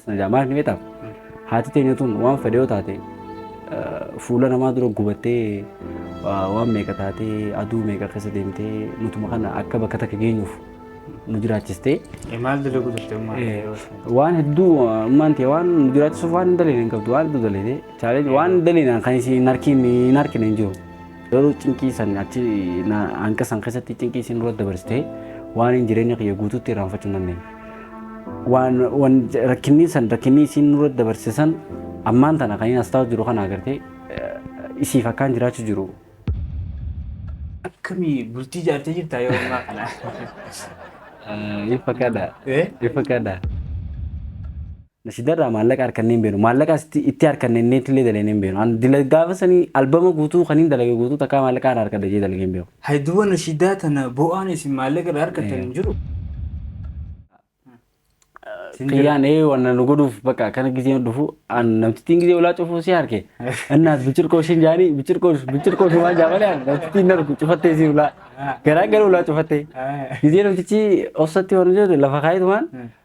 Sana jaa maaliif ni beektaa? Haati teenya tun waan fedhe yoo taate fuula namaa dura gubattee waan meeqa taatee aduu meeqa keessa deemtee nutuma kana akka bakka takka geenyuuf nu jiraachistee. Maal dalaguu turte ammaa? Waan hedduu ammaan ta'e waan nu jiraachisuuf waan hin daleene hin qabdu waan hedduu daleete chaalee waan daleenaan kan isin hin harkiin hin harkine hin jiru. Garuu cinqii san achi hanga san keessatti cinqii isin dura dabarsitee waan hin jireenya kiyya guutuutti irraanfachuu hin dandeenye. Waan rakkinni san rakkinni isin dura dabarse san ammaan tana kan inni as taa'u jiru kana agartee isiif akkaan jiraachuu jiru. Akkamii bultii ijaartee jirtaa yeroo ammaa kana? Ifa kadha. Ifa kadha. Nashida irraa maallaqa harkannee hin beenu. Maallaqa asitti itti harkanne inneetti illee dalaynee hin beenu. An dila gaafa sanii albama guutuu kaniin dalage guutuu takkaa maallaqa irraa harkadha jee dalagee hin beeku. Hay duba nashidaa tana bo'aan isin maallaqa irraa harkattan hin jiru. Sin jira. Kiyyaan ee wanna nu godhuuf bakka akkana gizeen dhufu an namtittiin gizee ulaa cufuu si harke. Innaas bichirqoo ishin jaanii bichirqoo bichirqoo ishin waan jaamalee an namtittiin na dhufu cufattee si ulaa. Garaa gara ulaa cufattee. Gizee namtichi obsatti waan jedhu lafa kaayitu waan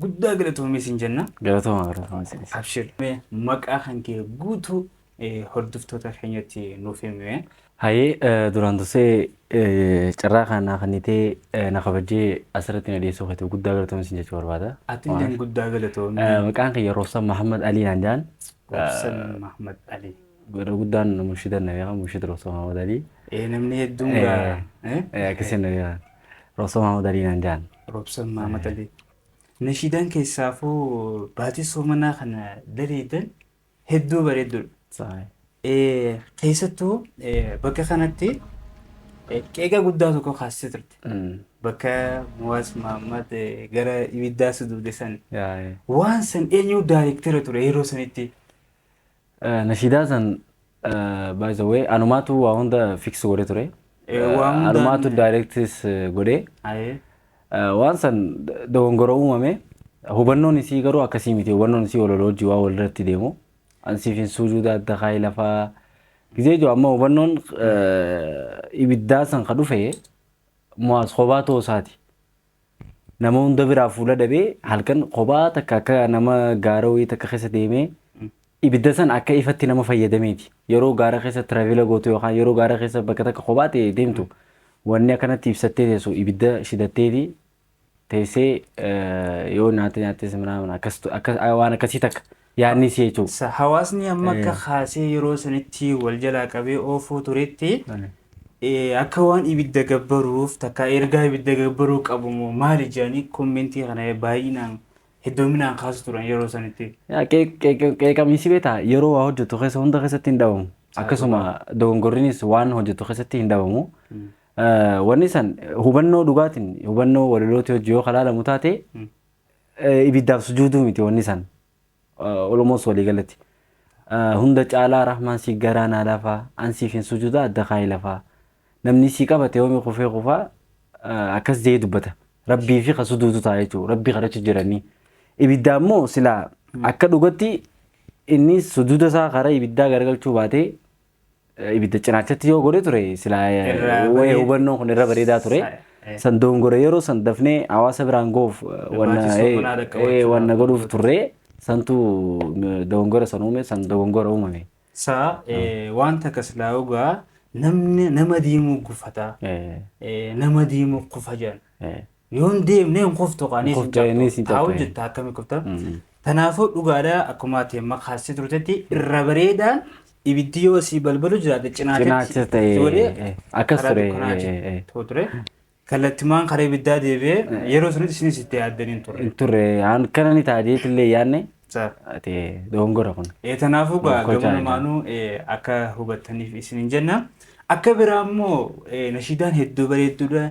Guddaa galatoomi siin jenna. Galatoma galatoma isinis. Abshir mee maqaa kan kee guutuu hordoftoota keenyatti nuuf himi mee. Hayee duraan dursee carraa kana naa kennitee na kabajjee asirratti na dhiyeessuu keetiif guddaa galatoomi siin jechuu barbaada. Atilleen guddaa galatoomi. Maqaan kiyya Roobsan Mahammad Alii naan jedhan. Roobsan Mahammad Alii. Godha guddaan munshidan na beekan munshid Roobsan Mahammad Alii. Ee namni hedduun gaa. Akkasiin na beekan. Robsa Maamad Alii naan ja'an. Robsa Maamad Alii. Nashiidaan keessaafuu baatii soomanaa kana daleeydan hedduu bareedduudha. Keessattuu bakka kanatti qeeqa guddaa tokko kaasisee turte. Bakka Muwaas Maamad gara ibiddaa suduude san. Waan san eenyu daayrektera ture yeroo sanitti. Nashiidaa san by the way anumaatu waa hunda fix godhe ture. Eh, waa hundaan- Anumaatu directis godhe. Ayee. Eh, Waan san dogongora uumame hubannoon isii garuu akkasii miti hubannoon isii waloloo wajji waa walirratti deemu. Ansiif hin suujuuda adda kaa'ee lafaa gizee jiru amma hubannoon eh, ibiddaa san ka dhufe mo'aas kophaa ta'uu isaati. Nama hunda biraa fuula dhabee halkan kophaa takka akka nama gaara wayii takka keessa deemee ibidda san akka ifatti nama fayyadameeti. Yeroo gaara keessa tiraavila gootu yookaan yeroo gaara keessa bakka takka kophaa ta'e deemtu wanni akkanatti ibsattee teessu ibidda shidatteeti teessee eh, yoo nyaata nyaattes minaa minaa akkas tu- akkas- waan akkasii takka yaadni si jechuudha. Sa hawaasni amma akka Ee. kaasee yeroo sanitti wal jalaa qabee oofuu turetti Ani. eh, akka waan ibidda gabbaruuf takka ergaa ibidda gabbaruu qabu moo maali jedhanii kommentii kana baay'inaan heddoominaan kaasu turan yeroo sanitti. Yaa, qeeq- qeeq- Qeeqamiinsi beektaa yeroo waa hojjetu keessa hunda keessatti hin dhabamu. Akkasuma dogongorrinis waan hojjetu keessatti hin dhabamu. Eh, Wanni san hubannoo dhugaatiin hubannoo walalooti hojii yoo kalaalamu taate ibiddaaf sujuuduu miti wanni san olomoos walii galatti hunda caalaa rahmaan si garaa naa lafaa an siif hin sujuudaa adda kaayi lafaa namni si qabate yoomi kufee kufaa akkas jee dubbata rabbii fi ka suduutu ta'a jechuu rabbii kadhachu jiranii ibiddaa immoo silaa akka dhugatti inni suduuda isaa karaa ibiddaa garagalchuu baatee ibidda cinaachatti yoo godhe ture silaa eh, Irra wayee bareed- hubannoon kun irra bareedaa ture. Sa- eh. San doongore yeroo san dafnee hawaasa biraan ga'uuf eh, wanna Barbaachisoo eh, manaa dhaqqabachuu eh, wanna dhaaf. godhuuf turre santu eh, doongora san uume san dogongora uumame. Saa eh, wanta akkas laa'ugaa namni nama diimuu gufataa Eh, eh, nama diimuu kufa jedhan. eh, Yoo hin deemne hin kuftu kaa Hin kuftu, ni isin Haa cabxu. hojjetta akkami kufta. Mm. Kanaafuu dhugaadha akkuma ati amma kaastee turtetti irra bareedaan ibiddi yoo si balbalu jiraate Cinaacha cinaacha ta'e, ijoollee eh, akkas karaa ture, dukkanaa eh, eh, eh. ta'u ture. Kallattimaan karaa ibiddaa deebi'ee yeroo sunitti isinis itti yaaddanii hin turre. Hin turre an kana ni ta'a jeetillee yaadne Sa- ati dogongora kun. Eh, Kanaafuu gaa Gocha gama jedhama. lamaanuu eh, akka hubattaniif isin hin jenna. Akka biraa immoo eh, nashiidaan hedduu bareedduudha.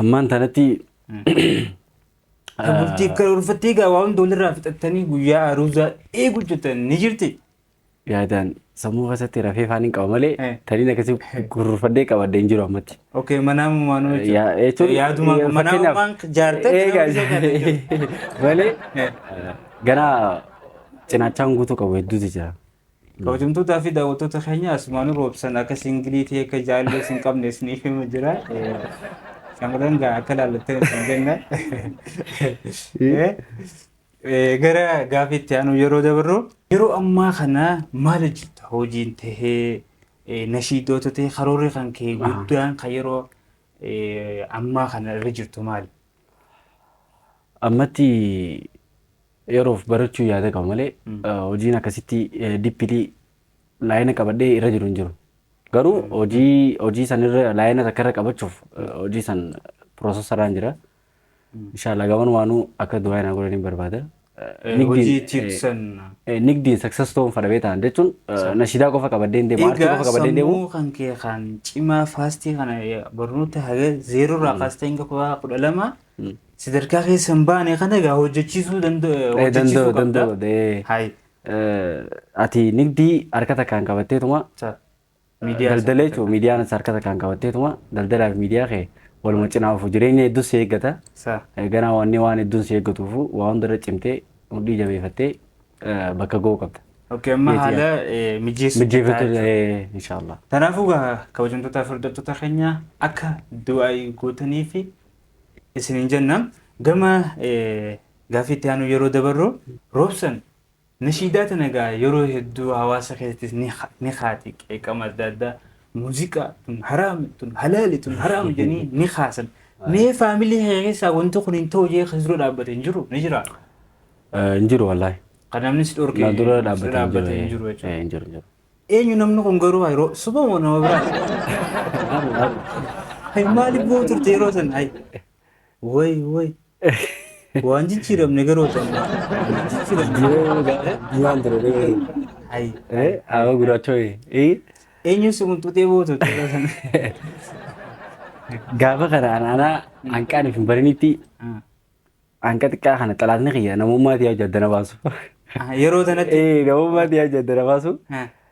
Ammaan tanatti Bultii akka ulfattee egaa waa hunda walirraa fixattanii guyyaa aruuzaa eeguu jirtan ni jirti. yaadaan sammuu keessatti rafee faan hin qaba malee Eh. taniin akkasii gurgurfadhee qabadde hin jiru ammatti. Okee manaa mumaanuu Ya- jechuudha. jechuun- Yaaduma ya- manaa fakkeenyaaf- mumaan jaartee Eegaa- jiraachuu qabda jechuudha. malee Eh. gara cinaachaan guutuu qabu hedduutu jira. Kabajamtootaa fi daawwattoota keenya asumaan roobsan akka singilii ta'e akka jaallee sin qabne isiniif hima jira. Shamarran gaa akka laallattan isin jenna. Gara gaafiitti aanu yeroo dabarru yeroo ammaa kana maal hojjetta hojiin tahee nashiidoota ta'e karoorri kan kee guddaan kan yeroo ammaa kana irra jirtu maali? Ammatti yeroof barachuu yaada qaba malee hojiin akkasitti dippilii laayina qabadhee irra jiru hin jiru. Garuu hojii hojii san irra laayina takka irra qabachuuf hojii san piroosesaraan jira. Inshaallah gaman waanuu akka du'aa hin godhaniin barbaada. hojii itti hir'isan. Nigdiin success ta'uun fadha beetaan jechuun nashiidaa qofa qabaddee hin deemu aartii qofa qabaddee hin deemu. Sammuu kan kee kan cimaa faastii kana barnoota haga zeeroo irraa kaastee hanga kutaa kudha lama sadarkaa keessa hin baane kana egaa hojjechiisuu hojjechiisuu qabda. Ati nigdii harka takkaan qabatteetuma Miidiyaa isa Daldala jechuun miidiyaan isa harkata kan qabatteetuma daldalaa fi miidiyaa kee waluma cinaa ofu jireenya hedduus si eeggata. Sa. Eh, Ganaa wanni waan hedduun si eeggatuufu waa hundarra cimtee mudhii jabeeffattee eh, bakka ga'uu qabda. Okay, amma Jeetii haala eh, mijeessu Mijjeeffattu jechuudha. eh, inshaallah. Kanaafuu gaa kabajamtootaa fi hordoftoota keenya akka du'aa'ii gootanii fi isiniin jenna gama eh, gaaffii itti aanu yeroo dabarru roobsan Nashiidaa tana egaa yeroo hedduu hawaasa keessattis ni kaati qeeqama adda addaa muuziqaa tun haraami tun halaali tun haraami jedhanii ni kaasan. Mee faamilii kee keessaa wanti kun hin ta'u jee kan si dura dhaabbate hin jiru ni jira. Hin jiru wallaahi. Kan namni si dhorke Na dura si dhaabbate hin jiru jechuudha. Hin jiru hin jiru. Eenyu namni kun garuu yeroo suba moo nama biraati? Hay maaliif boo'u turte yeroo san hay. Woy woy. Waan jijjiiramne garuu osoo ammaa. Waan ture dhee. Ayi. Eh, awa guraacha wayii. Eh, Eenyu si qunxutee bootu tola sana. gaafa kana anaanaa hanqaan hin barinitti hanqa xiqqaa kana xalaatni kiyya namummaa tiyaa jaddana baasu. Yeroo sanatti. Eh, namummaa tiyaa jaddana baasu.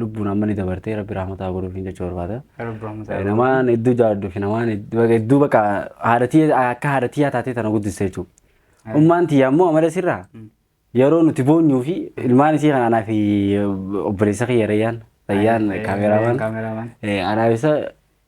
lubbuun amma ni dabartee rabbi rahmata haa godhuuf hin jechuu barbaada. Rabbi rahmata haa godhuuf. Namaan hedduu jaalladhu fi namaan hedduu bakka haadha tiyya akka haadha tiyyaa taatee tana guddiste jechuudha. Ummaan tiyya ammoo amala sirraa yeroo nuti boonyuu fi ilmaan isii kan anaa fi obboleessa kiyya rayyaan rayyaan kaameraamaan anaa isa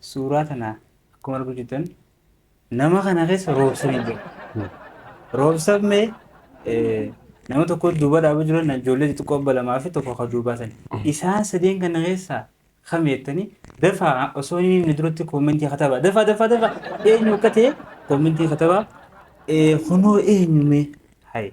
Suuraa tana akkuma arguu jirtan nama kana keessa roobsan hin jiru. Roobsan mee nama tokko duuba dhaabuu jiru na ijoollee xixiqqoo abba lamaa fi tokko kan duubaa sani. Isaan sadeen kana keessaa kam jettanii dafaa osoo inni inni duratti koomentii katabaa dafaa dafaa dafaa eenyu akka ta'e koomentii katabaa kunoo eenyu mee hayi.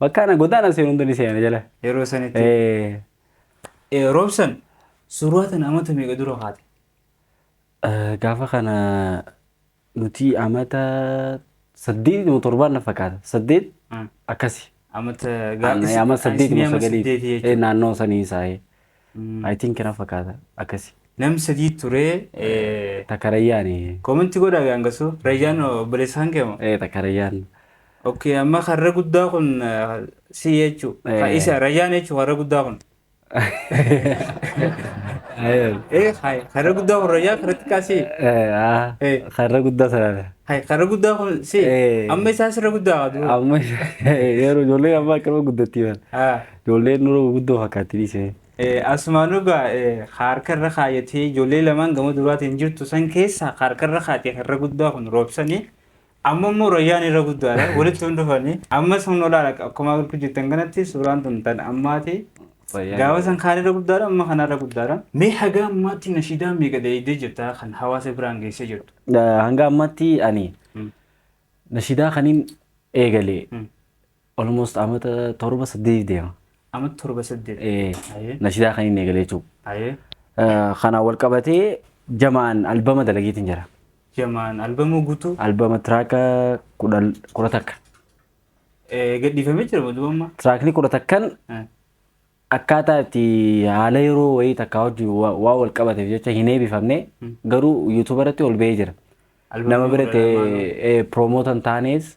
Bakka ana godaana seen hunda ni seena jala. Yeroo sanitti. Eh, Eh, Roobsan suuraa tana amata meeqa dura kaate? eh, gaafa kana nuti amata saddeet moo torbaan na fakkaata. Saddeet Ah, akkasi. Amata Ana- Amma saddeet moo sagalii. Eh, naannoo sanii saahee. I think na fakkaata akkasi. Namni sadii ture. Takka Rayyaan. Comment godhaa gaa hangasuu. Rayyaan obboleessaan kee moo? Takka Rayyaan. Okay amma karra guddaa kun si jechuu. Ka isa Rayyaan jechuu karra guddaa kun. Eh hai karra guddaa kun Rayyaan karra xiqqaa si. Karra guddaa sana. Hai karra guddaa kun si. Amma isaa sirra guddaa. Amma yeroo ijoollee amma akkana guddattii. Ijoolleen nurra guguddoo fakkaatti dhiisi mee. Asumaan dhugaa ka harka irra kaayatee ijoollee lamaan gama duraatiin jirtu san keessaa ka harka irra kaayatee ka irra guddaa kun roobsanii amma immoo rayyaan irra guddaadha walitti hin dhufanii amma sun olaala akkuma arguu jirtan kanatti suuraan tun tan ammaati gaafa san kaan irra guddaadha amma kana irra guddaadha. Mee haga ammaatti nashiidaa meeqa dalaydee jirta kan hawaasa biraan geessee jirtu? Hanga ammaatti ani nashiidaa kaniin eegalee Almost amata torba saddeeti deema. Amata torba saddeet. Ee, nashidaa kan inni eegalee jechuudha. Ayee. Kana wal qabatee jamaan albama dalageetiin jira. Jamaan albamoo guutuu. Albama tiraaka kudha kudha takka. Ee, gadhiifamee jira moo duuba amma. Tiraakni kudha takkan Eh. akkaataa itti haala yeroo wayii takkaa wajjin waa waa wal qabateef jecha hin eebifamne garuu yuutuuba irratti ol ba'ee jira. Albamni Nama kudha biratti lamaan. piroomoota hin taanes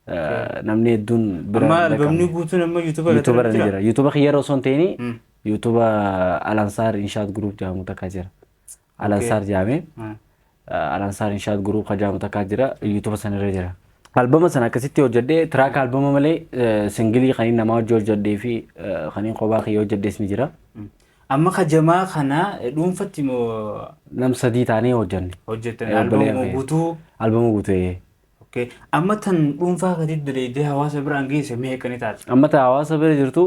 Okay. Eh, namni hedduun bira Amma hin albamni dhaqqabne. guutuun amma YouTube irratti YouTube irra ni jira. jira. YouTube kiyyarra osoo hin ta'ini Mm. YouTube Alansaar Inshaat Group jedhamu takka jira. Alansaar jedhamee Ah. eh, Alansaar Inshaat Group kan jedhamu takka jira. YouTube sanirra jira. Albama sana akkasitti hojjedhee tiraaka albama malee eh, singilii kan inni namaa hojii hojjedhee fi eh, kan inni kophaa kiyya hojjedhees ni jira. Mm. Amma ka jamaa kana eh, dhuunfatti moo Nam sadii taanee hojjenne. hojjettan Eh, albamuma obboleeyyan guutuu Albama guutuu. Okay. Amma tan dhuunfaa keetii daleeydee hawaasa biraan geesse meeqa ni taati? Amma ta hawaasa bira jirtu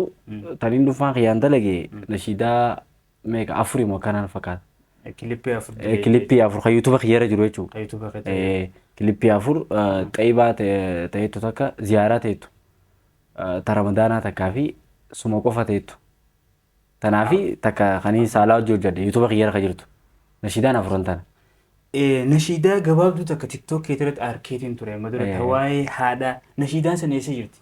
taniin dhuunfaan kiyyaan dalage nashiidaa meeqa afurii moo kanaan fakkaata. Kilippii afur Eh, daleeydee. Kilippii afur kan yuutuuba kiyyarra jiru jechuudha. Kan YouTube keetii. Eh, Kilippii afur eh, xaybaa ta- ta'eettu takka ziyaaraa ta'eettu eh, ta ramadaanaa takkaa fi suma qofa ta'eettu. Tanaafi takka kanii saalaa wajji hojjadhe yutuba kiyyara ka jirtu nashiidaan afuran tana. Nashiidaa gabaabduu takka tiktok keetirratti arkeetiin ture amma dura ta waa'ee haadhaa nashiidaan san eessa jirti?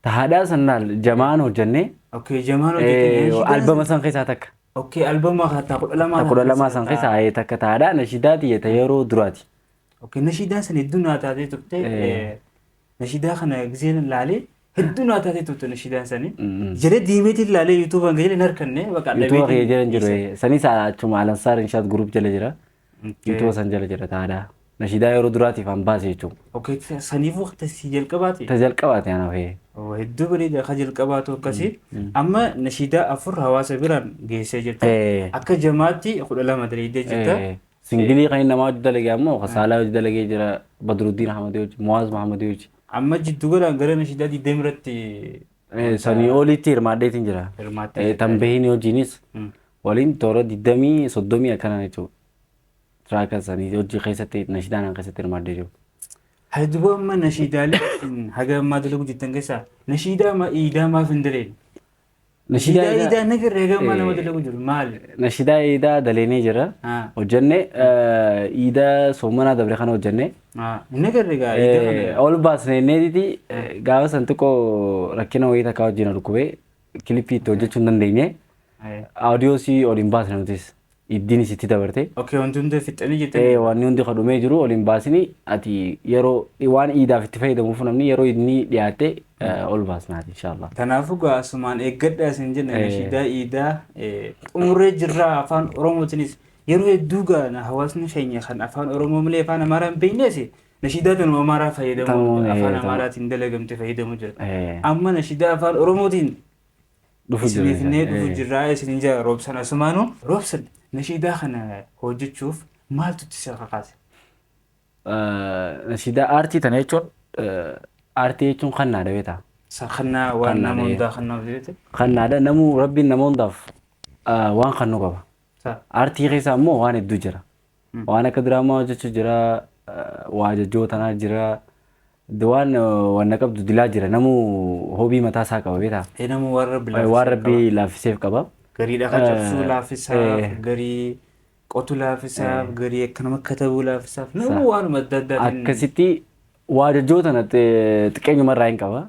Ta haadhaa san laal jamaan hojjannee Okay jamaan hojjettanii nashiidaan san- albama san keessaa takka. Okay albama ta kudha lamaa Ta kudha lamaa san keessaa ee, takka ta haadhaa nashiidaa tiyya ta yeroo duraati. Okay, nashiidaa sana hedduu naa taatee turte. Eh. eh, Nashiidaa kana giseen laalee hedduu naa taatee turte nashiidaan sani. Mm. Jala deemeetiin laalee yuutuubaan gajala hin harkanne baqa Yuutuuba kee jala hin jiru. eh. Sanis achuma Alansaar Inshaat Guruup jala jira. Yuutuuba san jala jira taadha. Nashiidaa yeroo duraatiif an baase jechuudha. Okay, saniifuu tasii jalqabaati. Ta jalqabaati ana fee. Oo, Hedduu bareeda akka jalqabaatu akkasii. Amma nashiidaa afur hawaasa biraan geessee jirta. Eh. Akka jamaatti kudha lama dalaydee jirta. Eh. Singilii kan inni namaa hojii dalagee ammoo kan saalaa hojii dalagee jira Badruddin Ahmadii hojii Muwaaz Mahamadii hojii. Amma jiddu galaan gara nashiidaa digdami irratti Eh, Sanii oliitti hirmaadheetiin jira. Hirmaattee Eh, jirta. Tan behiin hojiinis Mm. waliin toora digdamii soddomii akkana jechuudha. Tiraaka sanii hojii keessatti nashiidaan keessatti hirmaadhee jiru. Hayduboo amma nashiidaalee isin haga ammaa dalaguu jirtan keessaa nashiidaa ma iidaa maaf hin daleen? Nashiidaa Idaa- idaa na firree gamma Eh. nama dalagu jiru maali? Nashiidaa iidaa daleenee jira. Ah. Hojjenne iidaa soomanaa dabre kana hojjenne. Ah, Inni firree gaa idaa Eh, kana. Ol baasne inneetiti gaafa san xiqqoo rakkina wayii takka wajjin dhukkubee kilippii itti hojjechuu hin dandeenye. Eh, Audiosii ol hin baasne nutis. Iddiin sitti dabarte. Okay wanti hundee fixxanii jettanii? Ee waan hundi ka dhumee jiru ol hin baasini ati yeroo waan iidaaf itti fayyadamuuf namni yeroo idni dhiyaatte ol baasnaati inshaallah. Kanaafuu gaa asumaan eeggadhaa isin jenna Ee. nashiidaa iidaa ee, xumurree jirraa afaan oromootinis yeroo hedduu gaa na- hawaasni keenya kan afaan oromoo malee afaan amaaraa hin beeknes nashiidaa tanuma amaaraa fayyadamu Tanuma, ee, afaan tanuma. amaaraatiin dalagamte fayyadamu jira Ee. amma nashiidaa afaan oromootiin Dhufu Isin jirra finnee dhufu ee. jirraa isinin jira roobsan asumaanu. Roobsan nashiidaa kana hojjechuuf maaltu itti si kakaase? Nashiidaa aartii tana jechuun aartii jechuun kannaadha beektaa? Sa kannaa waan Kannaa nama ta'ee. hundaa kannaa hojii jette? Kannaadha namuu rabbiin nama hundaaf waan kannu qaba. Sa Aartii keessa ammoo waan hedduu jira. Waan akka diraamaa hojjechu jira waa jajjoo tanaa jira waan wanna qabdu dilaa jira namuu hobii mataa isaa qaba beetaa. Ee nama waan rabbi Waan laafisee rabbi qaba. laaffiseef qaba. Garii dhaqa cabsuu Eh, laafisaaf, eh. garii qotu laafisaaf, garii akka nama katabuu laafisaaf. Namuu waanuma adda addaatiin. Akkasitti waa jajjoo tana xiqqeenyuma irraa hin qaba.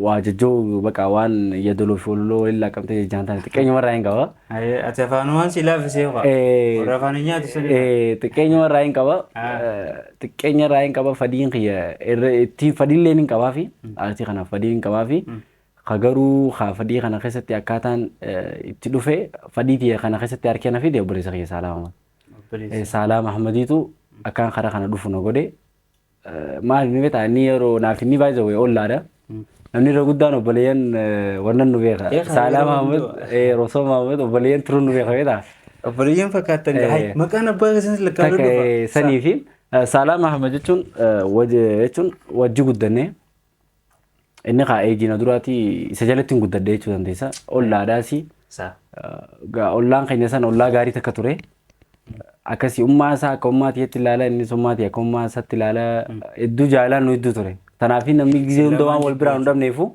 waa jajjoo baqa waan yadoloo fi ololoo waliin laaqqamtee jajjaan taane xiqqeenyuma irraa hin qaba. Ayee, ati afaanumaan si laaffisee ho'a. Eh, Warra afaan hin nyaatu sun. eh, Xiqqeenyuma irraa hin qaba. Ah. Eh, Xiqqeenya irraa hin qaba fadiin kiyya irra ittiin fadiillee hin qabaa fi aartii kanaaf fadii hin qabaa fi ka garuu ka fadii kana keessatti akkaataan eh, itti dhufe fadii tiyya kana keessatti harkee na fide obboleessa kiyya Saalaa Mahmad. Eh, Saalaa Mahmadiitu akkaan karaa kana dhufu na godhe. maal ni beektaa inni yeroo naaf inni by the way ollaadha. Namni irra guddaan obboleeyyan wannan nu beeka. Beekaa, Saalaa yeroo Maamud, hundaa. eh, Rosoo Maamud obboleeyyan turuun nu beeka beektaa. Obboleeyyan fakkaatan Eh. gahaa. Maqaan abbaa keessaniis lakkaa Takka eh, sanii fi eh, Saalaa Mahamad jechuun eh, waj- jechuun wajji guddannee Inni kaa eejii na duraati isa jalatti hin guddadhe jechuu dandeessa. Ollaadhaas Isaa. gaa ollaan keenya san ollaa gaarii takka ture. Akkasii ummaa isaa akka ummaa tiyyatti ilaala innis ummaa tiyya akka ummaa isaatti ilaala hedduu jaalaan nu hedduu ture. Kanaaf namni gizee hunda waan wal biraa hin dhabneefu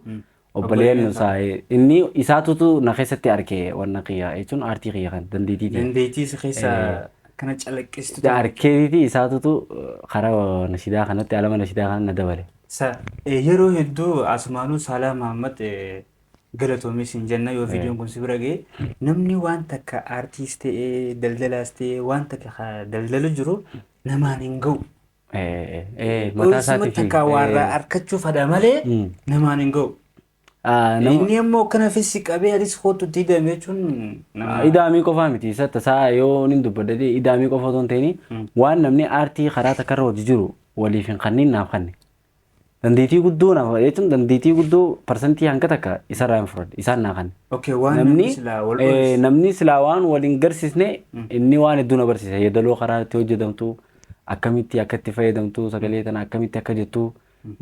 obboleeyyan nu isaa inni isaatutu na keessatti arke wanna kiyya jechuun aartii kiyya kan dandeettii tiyya. Dandeettii isa keessa kana calaqqistu. Arkeetiiti isaatutu karaa nashidaa kanatti alama nashidaa kana na dabale. Sa, ee yeroo hedduu asumaanuu saalaa mahammad galatoomii siin jenna yoo viidiyoon kun si bira ga'e namni waan takka aartiis ta'ee daldalaas ta'ee waan takka ka daldalu jiru namaan hin ga'u. Mataa Oolsuma isaatii fi takka waarraa arkachuuf hadha malee namaan hin ga'u. Ah, nama- Inni immoo akkana fessi qabee anis kootu itti hidhame jechuun nama Idaamii qofaa miti isa tasaa yoo nin dubbadde ta'e idaamii qofa otoo hin ta'in waan namni aartii karaa takka irra hojii jiru waliif hin kanniin naaf kanne. Dandeettii guddoo naaf jechuun dandeettii guddoo parsantii hanga takka isarraa hin fudhadhe isaan naa kanne. okay waan Namni namni silaa wal eh, oolchu. namni silaa waan wal hin garsiisne inni waan hedduu na barsiisa yeedaloo karaa itti hojjetamtu akkamitti akka itti fayyadamtu sagalee tana akkamitti akka jettu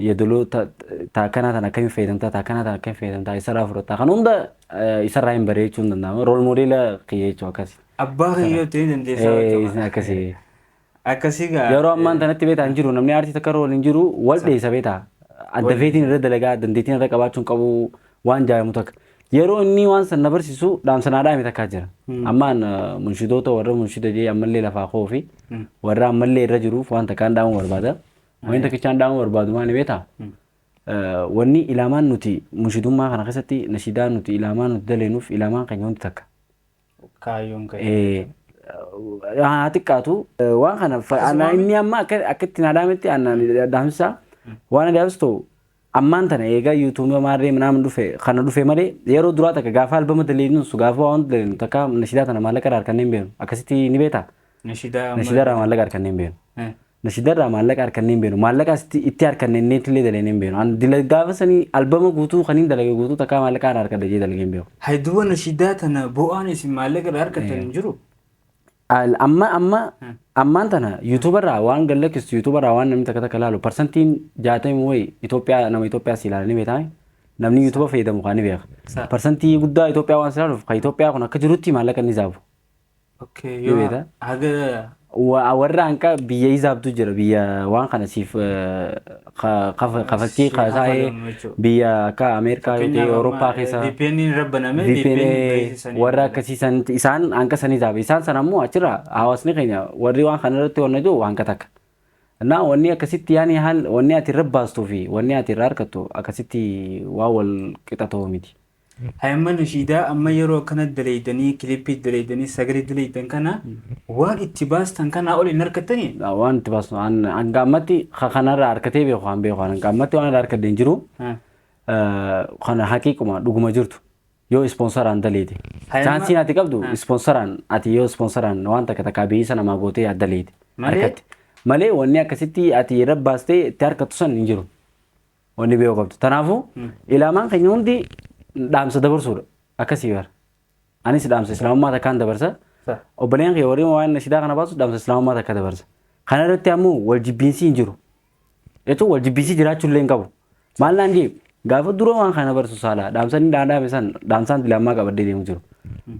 yadaloo ta- ta akkanaa tan akkamiin fayyadamtaa ta akkanaa tan akkamiin fayyadamtaa isarraa fudhattaa kan hunda eh, isarraa hin baree jechuun danda'ama rool moodeela kiyya jechuu akkasi Abbaa kiyya yoo ta'e dandeessaa Eh, isin beekama. akkasi Akkasii gaa. yeroo ammaan tanatti beetaa hin jiru namni aartii takka rool hin jiru wal dheessa beetaa adda feetiin irra dalagaa dandeettiin irra qabaachuun qabu waan jaayamu takka yeroo inni waan san na barsiisu dhaamsanaa dhaame takkaa jira ammaan eh, munshidoota warra munshida jee ammallee lafaa koo fi warra ammallee irra jiruuf waan takkaan dhaamuu barbaada Wanni takkichaan dhaama barbaadu maali beektaa? Wanni ilaamaan nuti mushidummaa kana keessatti nashidaa nuti ilaamaa nuti daleenuuf ilaamaan keenya hundi takka. Kaayyoon kee. Haa xiqqaatu waan kana anaa inni amma akka itti naa dhaametti anaa dhaamsisaa waan adaabas ta'u ammaan tana eegaa yuutuubii maarree naama dhufe kana dhufe malee yeroo duraa takka gaafa albama daleenu su gaafa waan daleenu takka nashidaa tana maallaqa irraa harkannee hin beenu akkasitti ni beektaa. Nashidaa. Nashidaa irraa maallaqa harkannee hin beenu. Nashida irraa maallaqa harkannee hin beenu. Maallaqa asitti itti harkanne inneetti illee dalaynee hin beenu. An dila gaafa sanii albama guutuu kan hin dalage guutuu takkaa maallaqa irraa harkadha jee dalagee hin beeku. Hay duba nashidaa tana bo'aan isin maallaqa irraa harkattan hin jiru? Al- Amma amma Hmm. ammaan tana yuutuuba irraa waan gad lakkistu yuutuuba irraa waan namni takka takka laalu parsantiin jaatamii wayi Itoophiyaa nama Itoophiyaa si ilaalanii beekame namni yuutuuba fayyadamu kaan ni beeka. Sa- Parsantii guddaa Itoophiyaa waan si ilaaluuf kan Itoophiyaa kun akka jirutti maallaqa ni zaabu. Okay, Ni yoo beektaa? haga Wa- Warra hanqa biyya isaabtu jira biyya waan kana siif eh, ka- kafa- kafakkii si kaasaa'ee kafalamu jechuudha. biyya akka Ameerikaa Fakkeenyaaf yookiin amma, Awurooppaa eh, keessa VPN irra banamee VPN VPN baay'ee sanii warra dalaga. akkasii sanitti isaan hanqa sanii taa'e isaan sana immoo achirra hawaasni keenya warri waan kana irratti honnatu hanqa takka. Naa wanni akkasitti yaani haal wanni ati irra baastuu fi wanni ati irra harkattu akkasitti waan wal qixa ta'u miti. Hay amma nashiidaa amma yeroo akkana daleeydanii kilippii daleeydanii sagalee daleeydan kana waan itti baastan kanaa ol hin arkattanii? Gaa waan itti baastu an hanga ammatti ka kanarraa arkatee beeku kan beeku an hanga ammatti waan irraa arkadde hin jiru Ha. Eh, kana haqiiquma dhuguma jirtu yoo ispoonsaraan daleeyde Hayama- chaansiin ati qabdu Ha. ispoonsaraan ati yoo ispoonsaraan waan takka takkaa beeyisa namaa gootee ati daleeyde Malee? arkatte malee wanni akkasitti ati irra baastee itti harkattu san hin jiru Wanni beeku qabdu. Kanaafuu ilaamaan keenya hundi dhaamsa dabarsuudha. Akkasii bara. Anis dhaamsa islaamummaa takkaan dabarsa. Sa. Obboleen kee warri waan nashidaa kana baasu dhaamsa islaamummaa takka dabarsa. Kana irratti ammoo wal jibbiinsi hin jiru. Jechuun wal jibbiinsi jiraachuu illee hin qabu. Maal naan jee gaafa dura waan kana barsu saalaa dhaamsan inni dhaadhaame san dhaamsaan ilaamaa qabadee deemu jiru.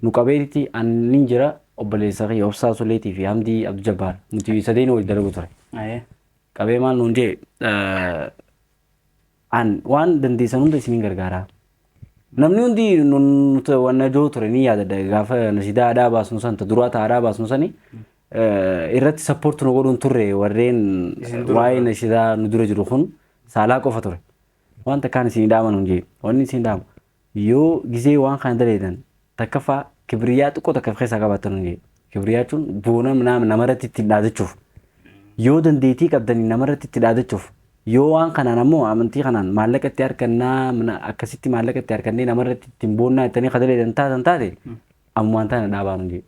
Nu qabeetitti annin jira obboleessa kee obsaa suleetii fi hamdii abdu jabbaar nuti sadeen waliin dalagu ture. Ayee. qabee maal nuun jee an waan dandeessan hunda isiniin gargaaraa namni hundi nuti wanna joo ture ni yaadadha gaafa nasidaa aadaa baasnu san ta duraa ta aadaa baasnu sani irratti sappoorti nu godhuun turre warreen waa'ee nasidaa nu dura jiru kun saalaa qofa ture wanta kaan isin dhaaman hin jee wanni isin dhaama Yoo gizee waan kana daleedan takkaffaa kibriyaa xiqqoo takka of keessaa qabaattan hundee. Kibriyaa jechuun boona nama namarratti ittiin dhaadachuuf. Yoo dandeettii qabdanii namarratti itti dhaadachuuf. Yoo waan kanaan ammoo amantii kanaan maallaqa itti harkannaa mana- akkasitti maallaqa itti harkannee namarratti ittiin boonnaa ittanii kadaleedan taatan taate ammumaan taana dhaabaan hundee.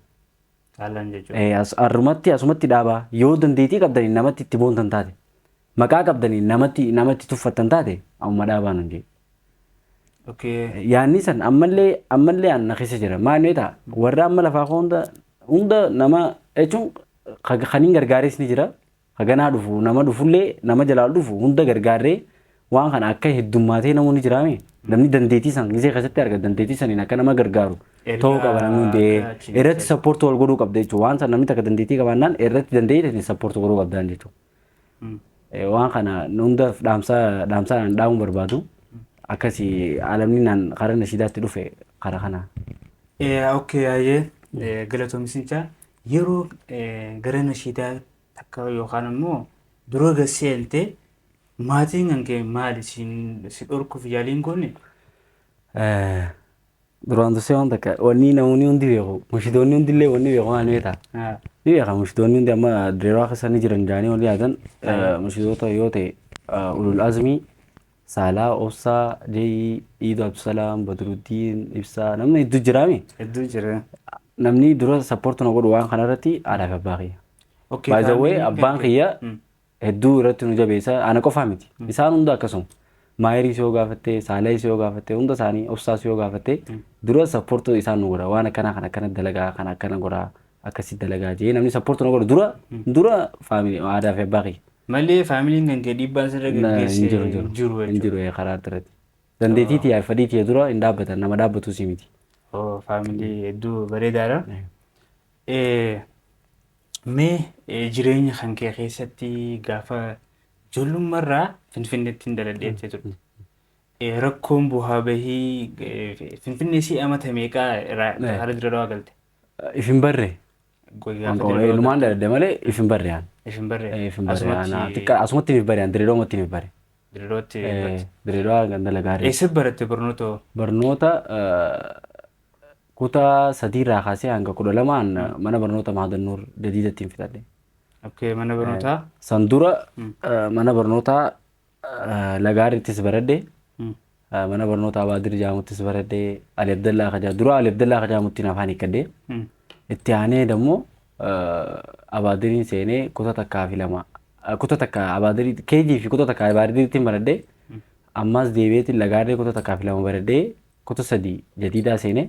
Caallaan jechuudha. Eh, as- Arrumatti asumatti dhaabaa yoo dandeettii qabdaniin namatti itti boontan taate maqaa qabdaniin namatti namatti tuffattan taate amma dhaabaa nun jedhe. Okay. Yaanni san ammallee ammallee aan na keessa jira maal mee ta'a warra amma lafaa koo hunda hunda nama jechuun ka- kan hin gargaares ni jira Haganaa dhufu nama dhufullee nama jalaa dhufu hunda gargaarree waan kana akka heddummaatee namoonni jiraame namni dandeettii san gisee keessatti arga dandeettii saniin akka nama gargaaru ta'uu qaba namni hundee irratti sappoortii wal godhuu qabda jechuudha waan san namni takka dandeettii qabaannaan irratti dandeettii sappoortii godhuu qabdaan jechuudha waan kana hunda dhaamsaa dhaamsaa kan dhaamu barbaadu akkasi alamni naan karaa nashiidaatti dhufe karaa kana. Okkee yaayee galatoomisinchaa Yeroo gara nashiidaa takka yookaan ammoo dura gad seente maatiin kan kee maali siin si dhorkuuf yaaliin goone? Duraan dursee waan takka wanni namoonni hundi beeku mushidoonni hundi illee wanni beeku waan beekta. Ni beeka mushidoonni hundi amma direewaa keessa ni jiran jaanii wanni yaadan mushidoota yoo ta'e ulul azmii Saalah, Obsa, J, Iidu Abdusalaam, Badruddiin, Ibsaa namni hedduu jiraami. Hedduu jira. Namni dura sappoortu na godhu waan kanarratti haadhaa fi abbaa kiyya. Okay, By the way faamiliin abbaan kee- kiyya Mm. hedduu irratti nu jabeessa ana qofaa miti. Isaan hunda akkasuma. Maayiriis yoo gaafatte, Saalaayis yoo gaafatte, hunda isaanii obsaas yoo gaafatte dura sappoortu isaan nu godha. Waan akkana kan akkana dalagaa kan akkana godha. akkasi dalagaa jee namni support na godhu dura dura family aadaa fi abbaa kiyya Malee faamiliin kan kee dhiibbaan sirra Na- gaggeesse hin jiru hin jiru hin jiru hin jechuudha. jiru ee, karaa irratti dandeetii tiyyaa fi fedhii tiyya dura hin dhaabbatan nama dhaabbatuu si miti Oo, faamilii hedduu bareedaadha. Eh, Mee eh, jireenya kan kee keessatti gaafa ijoollummarraa Finfinneetti hin daladheettee turte. Eh, Rakkoon bu'aa bahii eh, Finfinnee si amata meeqaa irraa Eh. haala dura dawaa galte? If hin barre. Qoy Waan gaafa qabu dirree lumaan daladde malee if hin barre aan. if hin barre. If hin barre aan. Asumatti Xiqqa asumatti hin barre aan direedoomatti hin barre. dirreetti barate. Direedoo ganda lagaarri. Eessa baratte barnoota hoo? Barnoota kutaa sadii irraa kaasee hanga kudha lamaan mana barnoota Maadannuur Jadiidatti hin fixadhe. Okay, mana barnootaa. San dura mana barnootaa lagaarrittis baradhe. Mm. Mana barnootaa Abaadir jaamuttis baradhe. Ali Abdallaa Kajaa dura Ali Abdallaa Kajaamuttiin afaan hiikkadhe. Itti aanee dammoo Abaadiriin seenee kuta takkaa fi lama kuta takka Abaadirii keejii fi kuta takka Abaadiriittiin baradhe. Ammaas deebi'eetiin lagaarree kuta takkaa fi lama baradhee kuta sadii jadiidaa seenee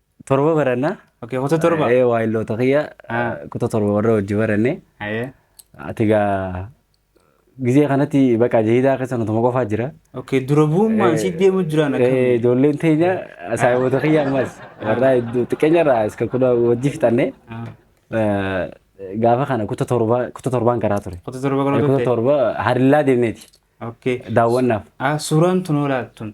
Torba barannaa. Okay, kuta torba. Ee waayilloota kiyya Ah. kuta torba warra wajji baranne. Ayee. Ati gaa gizee kanatti baqa jahidaa keessa nutuma qofaa jira. Okay, dura bu'ummaan si deemu jiraan Eh, akkamitti? Ijoolleen teenya saayiboota kiyya ammas warra hedduu xiqqeenyarraa iska kudha wajji fixanne. Ah, Eh, Gaafa kana kuta torba kuta torbaan karaa ture. Kuta torba kana Kuta turte. torba harillaa deemneeti Okay. daawwannaaf. Ah, suuraan tun olaattuun.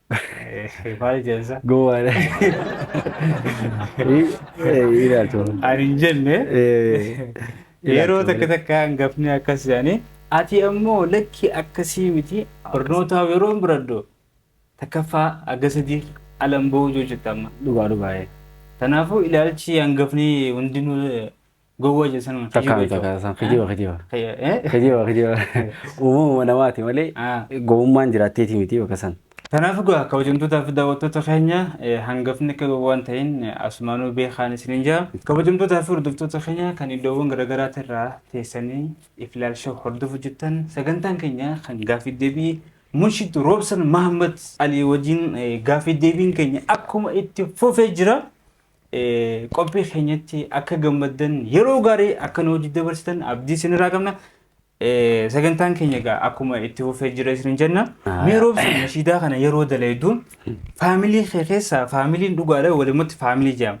Maal jensa? Gowwaadha. Ilaaltu. Ani hin jenne yeroo takka takka hangafni akkas jedhanii ati ammoo lakki akkasii miti barnootaa yeroo hin biraddu takkaffaa aga sadii alan ba'uu yoo jette amma. Dhugaa dhugaa. Kanaafuu ilaalchi hangafni hundinuu Gowwa je san kijiba Takkaa miti jechuudha. takkaa san kijiba kijiba. Kiyya, eh? Kijiba kijiba. Uumamuma namaati malee Ah. gowwummaan jiraatteeti miti bakka san. Kanaaf egaa kabajamtootaa fi daawwattoota keenya eh, hangafni akka gowwaa hin ta'in eh, asumaanuu beekaan isiniin jaa. Kabajamtootaa fi hordoftoota keenya kan iddoowwan garaagaraatti irraa teessanii Iflaal Show hordofu jirtan sagantaan keenya kan gaafii deebii Munshid Roobsan Mahammad Alii wajjin eh, gaafii deebiin keenya akkuma itti fufee jira. Qophii keenyatti akka gammaddan yeroo gaarii akka nu wajjin dabarsitan abdii isinirraa qabna. Sagantaan keenya egaa akkuma itti fufee jira isin jenna. Mee roobsi nashiidaa kana yeroo dalaydu faamilii kee keessaa faamiliin dhugaadha walumatti faamilii jedhama.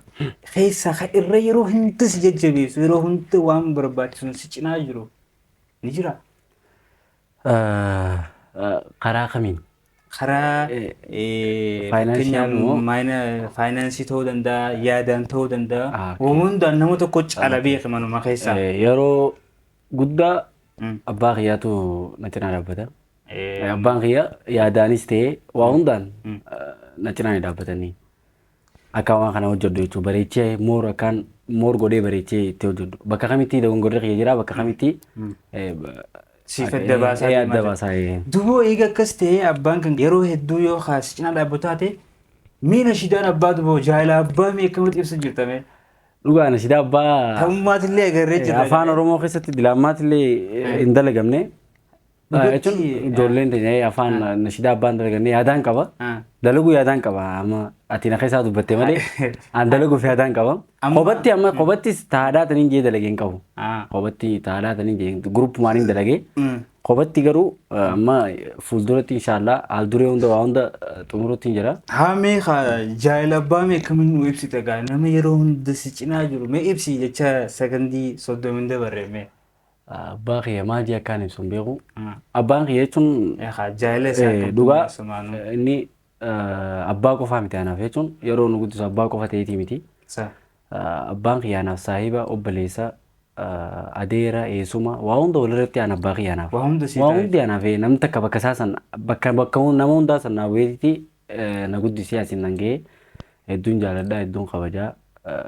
Keessaa kan irra yeroo hunda si jajjabeessu yeroo hunda waan barbaachisuun si cinaa jiru ni jira. Karaa kamiin? Karaa fakkeenyaaf faayinaansii ta'uu danda'a, yaadaan ta'uu danda'a. Hundaan nama tokko caala beeke manuma keessaa. Yeroo guddaa abbaa kiyyaatu na cinaa dhaabbata. Abbaan kiyya yaadaanis ta'ee waa hundaan na cinaa ni dhaabbatanii. Akkan waan kana hojjedhu jechuun bareechee moor akkaan moor godhee bareechee itti hojjedhu. Bakka kamitti dogongorri kiyya jira bakka kamitti eh, Siif adda baasaa eh, deemaa adda jira. baasaa eh. Duboo eega akkas ta'ee abbaan kan yeroo hedduu yoo kaasi cinaa dhaabbu taate miina shidaan abbaa duboo jaala abbaa mee akkamitti ibsa jirtame Dhugaa na sidaa abbaa ta'ummaatillee agarree jirra. afaan Oromoo keessatti dilaammaatti illee hin dalagamne. Jechuun ijoolleen teenya afaan nashidaa abbaan dalagannee yaadaan qaba. Dalaguu yaadaan qaba amma ati na keessaa dubbatte malee an dalaguuf yaadaan qaba. Kophatti amma kophattis taadhaa taniin jee dalagee hin qabu. Kophatti taadhaa taniin jee guruppumaan hin dalagee. Kophatti garuu amma fuulduratti inshaallah haal duree hunda waa hunda xumurutti hin jira. Haa mee jaayila abbaa mee akkamiin nu ibsita gaa nama yeroo hunda si cinaa jiru mee ibsi jecha sakandii soddomin dabarre mee. Abbaa kiyya maal jee akkaan ibsu hin beeku. Abbaan kiyya jechuun Eegaa jaayila isaa eh, kan dhugaa tummaasumaanu. eh, inni eh, abbaa qofaa miti anaaf jechuun yeroo nu guddisu abbaa qofa ta'eetii miti. Sa. Eh, Abbaan kiyya anaaf saahiba, obboleessa, eh, adeera, eessuma waa hunda walirratti aan abbaa kiyya anaaf. Waa hunda sii Waa taa'e. hundi anaaf eh, namni takka bakka isaa san bakka bakka hun- nama hundaa san naa bu'eetitti eh, na guddisee asiin nan ga'ee hedduun jaaladhaa hedduun kabajaa. eh,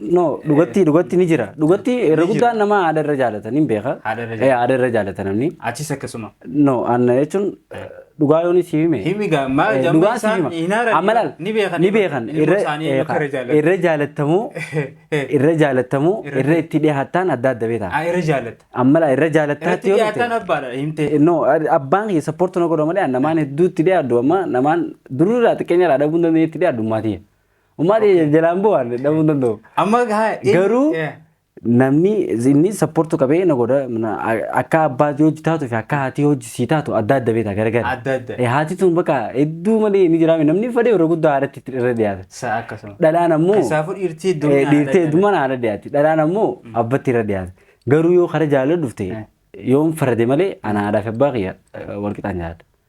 No, dhugatti dhugatti ni jira. Dhugatti irra Ni jira. guddaan nama haadha irra jaalatan hin beeka. Haadha irra Eh, Haadha irra jaalata namni. Achis akkasuma. No, anna jechuun dhugaa yoon si hime. Himi gaa maal Eh, jamma dhugaa si isaan hima. hin haaran Amma laal, ni beekan. ni beekan. Ilma Irra- isaanii eh, akka irra jaalatan. irra jaalatamuu irra jaalatamuu Irra- irra itti dhiyaattaan adda adda beektaa. Ah, irra jaallata. Amma laa irra jaalattaatti Irratti yoo dhiyaataan dhufte. abbaadha himtee. No, ad- abbaan kee sappoortu na godha malee namaan hedduutti dhiyaaddu amma namaan dururraa xiqqeenya irraa dhabuun dandeenye itti dhiyaaddu maatii. Ummaan jalaan bu'aan dhabuu hin danda'u. Amma haa inni- Garuu Yeah. namni inni sapportu qabee na godha na- a- akka abbaa hojii taatu fi akka haatii hojii sii taatu adda adda beekta garagara. Adda adda. Eh, Haati tun bakka hedduu malee ni jiraame namni fedhe yeroo guddaa haadhatti itti irra dhiyaata. Sa akkasuma. Dhalaan ammoo Keessaafuu dhiirtii eh, hedduminaan dhiirtee haadha heddumaan haadha dhiyaatti. Dhalaan ammoo abbatti irra dhiyaata. Garuu yoo kara jaalala dhufte yoon farade malee ana haadhaa fi abbaa kiyya eh, wal qixaan jaalladha.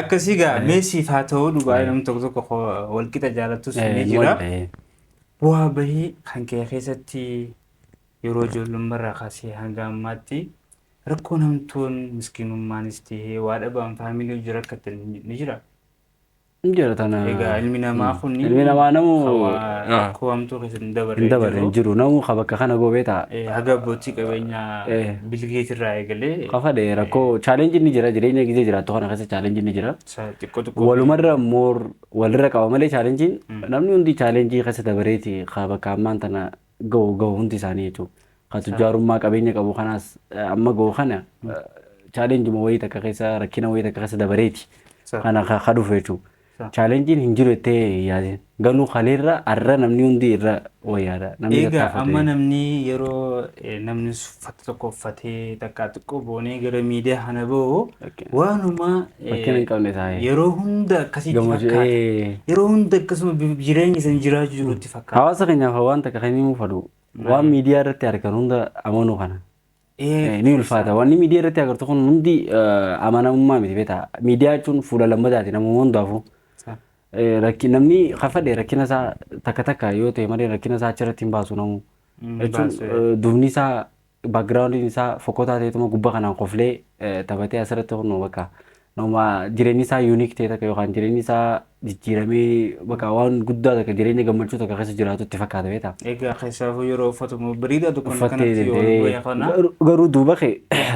Akkasii gaa mee siif haa ta'uu dhugaa namni tokko tokko koo walqixa jaalattus ni jira. Bu'aa bahii kan kee keessatti yeroo ijoollummarraa kaasee hanga ammaatti rakkoo namtoon miskiinummaanis ta'ee waa dhabaan faamilii hojii rakkatan ni jira. Hin jira tana. Egaa ilmi namaa kun Ilmi namaa namu rakkoo hamtuu keessatti hin dabarre hin dabarre hin jiru. jiru. Namu ka bakka kana gobee ta'a. Eh, Haga abbootii qabeenyaa Eh. Bilgeet irraa eegalee. Kafa dhee rakkoo challenge ni jira jireenya gizee jiraattu kana keessa challenge ni jira. Sa- Xiqqoo xiqqoo. Walumarra moor walirra qaba malee challenge namni hundi challenge keessa dabareeti haa bakka ammaan tana gahu gahu hundi isaanii jechuudha. Haa tujjaarummaa qabeenya qabu kanaas eh, amma gahu kana challenge ma wayii takka keessa rakkina wayii takka keessa dabareeti Sa- kana ka ka dhufu jechuudha. Challengin hin jiru jettee yaadin. Ganuu kaleerra arra namni hundi irra wayyaadha. Namni Eegaa amma tattaafate. namni yeroo eh, namni uffata tokko uffatee takkaa xiqqoo boonee gara miidiyaa kana bahu Fakkeen- waanuma eh, fakkeen hin qabne taa'ee. yeroo hunda akkasitti Gammachuu- fakkaata. ee. Yeroo hunda akkasuma bi- jireenya san jiraachuu jirutti fakkaata. Hawaasa keenyaaf waan takka kan himuu fadhu. Waan miidiyaa irratti argan hunda amanuu kana. Ee ni ulfaata. Wanni miidiyaa irratti agartu kun hundi eh, amanamummaa miti beektaa. Miidiyaa jechuun fuula lammataati namuma hundaafuu. Eh, rakki- Namni kafadhe rakkina isaa takka takka yoo ta'e malee rakkina isaa achirratti hin baasu namuu. Mm, Jechuun baasu, eh, duubni isaa backgroundiin isaa fokkotaa ta'etuma gubbaa kanaan koflee eh, taphatee asirratti kun bakka Nama jireenyi isaa unique ta'e takka yookaan jireenyi isaa jijjiiramee bakka waan guddaa takka jireenya gammachuu takka keessa jiraatu itti fakkaata beektaa? Egaa keessaafuu yeroo uffatamu biriidha tokko Uffattee kanatti yoo deemtee wayya kana. garuu- garuu duuba kee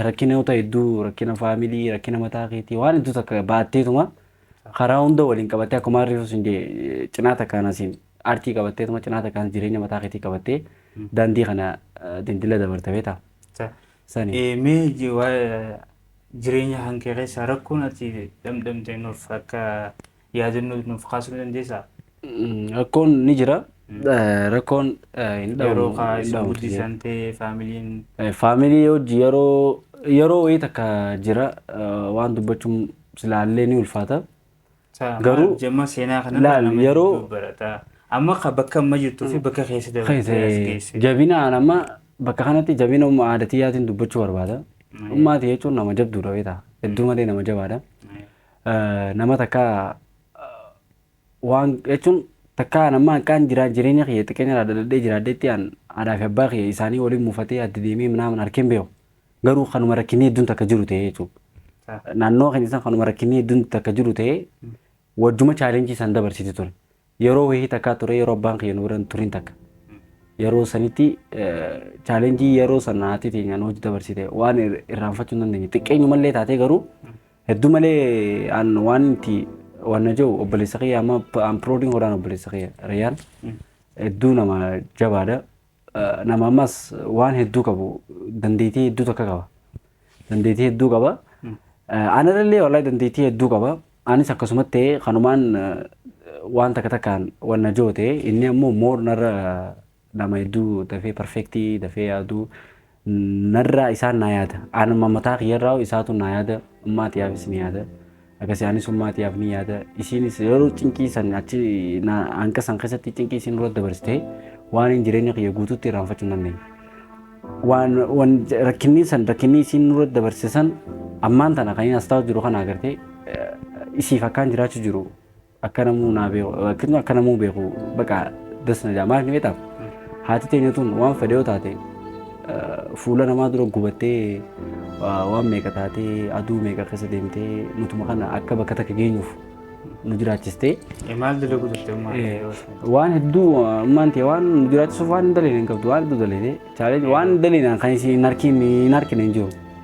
rakkina yoo ta'e hedduu rakkina faamilii rakkina mataa keetii waan hedduu takka baatteetuma karaa hunda waliin qabattee akkuma harriisu sun jee cinaa takkaan asiin aartii qabatteetuma cinaa takkaan jireenya mataa keetii qabattee daandii kana eh, dindila dabarta beektaa? Sa- Sani. Eh, Mee ji- waa'ee Jireenya kan kee keessaa rakkoon ati dhamdhamte nuuf akka yaadannoo nuuf kaasuu ni dandeessaa? Rakkoon ni jira. Rakkoon hin dhabamu. Yeroo kaa hin isin dhabamu. guddisan ta'e faamiliin Faamilii hojii yeroo yeroo wayii takka jira eh, waan dubbachuun silaallee ni ulfaata. Taa maal Garuu- jamma seenaa kana Laal, nama yeroo- hedduu barataa. Amma ka bakka amma jirtuu fi bakka keessa dabartee as Keessa geesse. jabina an amma bakka kanatti jabina umma aadatiyyaatiin dubbachuu barbaada. Mm. Ummaati jechuun nama jabduudha beektaa. Hedduu malee nama jabaadha. Eh, Nama takka eh, waan jechuun takka an amma akkaan jiraa jireenya kiyya xiqqeenya irraa dadhabdee jiraadheetti an aadaa fi abbaa kiyya isaanii waliin muufatee adda deemee minaamin harkeen beeku. Garuu kanuma rakkinni hedduun takka jiru ta'ee jechuudha. Naannoo keenya san kanuma rakkinni hedduun takka jiru ta'ee wajjuma chaalenjii san dabarsiti ture. Yeroo wayii takkaa ture yeroo abbaan kiyya nu bira hin turin takka. Yeroo sanitti chaalenjii yeroo san haati teenya nu wajji dabarsite waan irraanfachuu hin dandeenye. Xiqqeenyumallee taatee garuu hedduu malee an waan itti waan na jiru obboleessa kiyya amma an proudin godhaan obboleessa kiyya Rayyaan hedduu nama jabaadha. nama ammas waan hedduu qabu dandeettii hedduu takka qaba. Dandeettii hedduu qaba. Anarallee wallahi dandeettii hedduu qaba. Anis akkasumatti ta'ee kanumaan waan takka takkaan wanna joote inni ammoo moor narra nama hedduu dafee perfektii dafee yaaduu Narraa isaan naa yaada. Anuma mataa kiyyarraa isaatu naa yaada. Ummaa tiyaafis ni yaada. Akkasii anis ummaa tiyaaf ni yaada. Isiinis yeroo cinqii san achi hanqa san keessatti cinqii isiin dura dabarsitee waan hin jireenya kiyya guutuutti irraanfachuu hin dandeenye. Waan waan rakkinni san rakkinni isiin dura dabarse san ammaan tana kan inni as taa'u jiru kana agartee isiif akkaan jiraachuu jiru akka namuu naa beeku akkasuma akka namuu beeku baqa das na jaa maal beektaaf haati teenya tun waan fedhe yoo taate fuula namaa dura gubattee waan meeqa taatee aduu meeqa keessa deemtee nutuma kana akka bakka takka geenyuuf nu jiraachistee Maal dalagu turte ummaa yoo waan hedduu ammaan ta'e waan nu jiraachisuuf waan hin daleene hin qabdu waan hedduu daleene chaaleen waan daleene kan isin hin harkiin hin harkine hin jiru.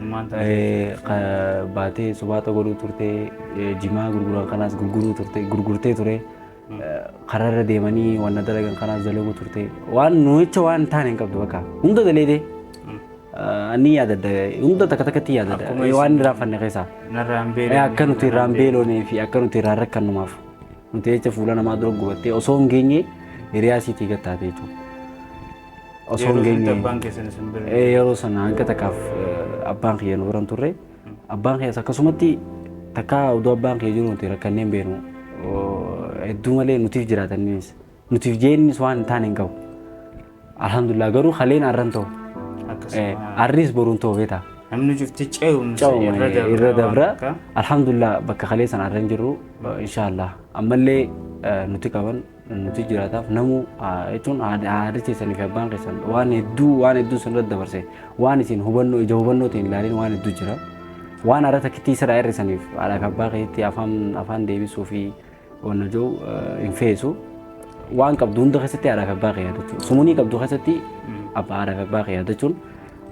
Ilmaan taa'ee baatee subaaxa godhuu turte jimaa gurguran kanaas gurguruu turte gurgurtee ture kararra deemanii wanna dalagan kanaas dalaguu turte waan nuyicha waan taane hin qabdu bakka hunda daleedee ni yaadadda hunda takka takkatti yaadadda Akkuma isin- waan irraa fanne keessaa Narraa hin beelofne. akka nuti irraa hin beelofnee fi akka nuti irraa hin rakkannumaaf nuti jecha fuula namaa dura gubattee osoo hin geenye hiriyaa siitii gattaate jechuudha. Osoo hin Yeroo sanitti geenye- abbaan keessan isin bira Ee, yeroo sana hanga takkaaf eh, abbaan kiyya nu biran turre abbaan kiyyas akkasumatti takkaa oduu abbaan kiyya jiru nuti rakkanneen beenu Oo, hedduu malee nutiif jiraataniis nutiif jeennis waan hin taane hin qabu alhamdulillah garuu haleen arran ta'u Eh, akkasuma arris boruun ta'u beeta namni cufti ce'umsa ca'uma irra dabra irra waan dabra akka. alhamdulillah bakka halee sana arran jirru inshaallah ammallee eh, nuti qaban Nuti jiraataaf namuu jechuun haadha keessanii fi abbaan keessan waan hedduu waan hedduu isin irratti dabarse waan isin hubannoo ija hubannoo ta'e hin ilaalin waan hedduu jira. Waan haadha takkittii sirraa hir'isaniif haadha fi abbaa keessatti afaan afaan deebisuu fi wanna jiru hin feesu. Waan qabdu hunda keessatti haadha fi abbaa kee yaadachuun sumunii qabdu keessatti abbaa haadha fi abbaa kee yaadachuun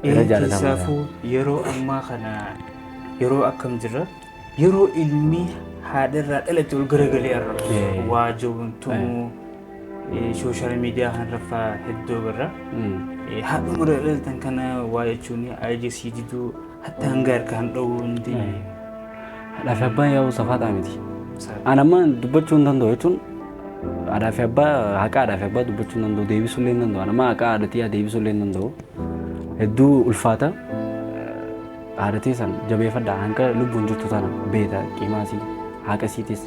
irra jaallatamaadha. Keessaafuu yeroo ammaa kana yeroo akkam jirra? Yeroo ilmi haadharraa dhalate ol garagalee arrabsu Eh. waajoon tumuu sooshaal miidiyaa kanarraffaa hedduu agarra. Eh, Haadhuma irra dhalatan kana waa jechuun aija sii diduu hatta hanga harkaan dhowuu hundi Haadhaa fi abbaa yaa'uu safaataa miti. An amma dubbachuu hin danda'u jechuun haadhaa fi abbaa haqa haadhaa fi abbaa dubbachuu hin danda'u deebisuu illee hin danda'u. An amma haqa haadhatii haa deebisuu illee hin danda'u. Hedduu ulfaata. Haadha teessan jabeeffadha hanga lubbuun jirtu tana beeta qimaa isii haaqa isiitis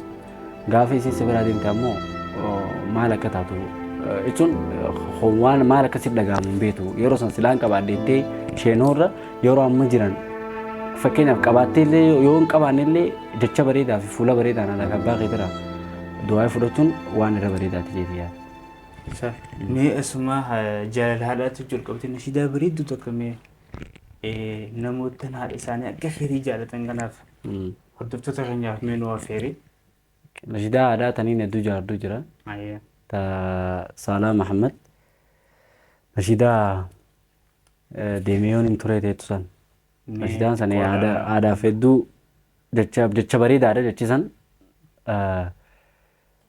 gaafa isiin si biraa deemte ammoo maal akka taatu jechuun waan maal akka siif dhaga'amu hin beetu yeroo san silaan qabaadheettee isheenurra yeroo amma jiran fakkeenyaaf qabaattee illee yoo hin qabaanne illee jecha bareedaa fi fuula bareedaan ala abbaa keetira du'aa fudhachuun waan irra bareedaati jeeti yaada. Mee esumaa jaalala haadhaatu jalqabte nashiidaa bareedduu tokko mee namoottan haadha isaanii akka keetii jaalatan kanaaf hordoftoota keenyaaf mee nu affeeri. Nashidaa aadaa taniin hedduu jaarduu jira. Ayyee. Ta Saalaa Mahammad. Nashidaa eh, deemee yoon hin turee teettu san. Nashidaan san eh, aadaa aadaaf hedduu jecha jecha bareedaadha jechi san. Eh,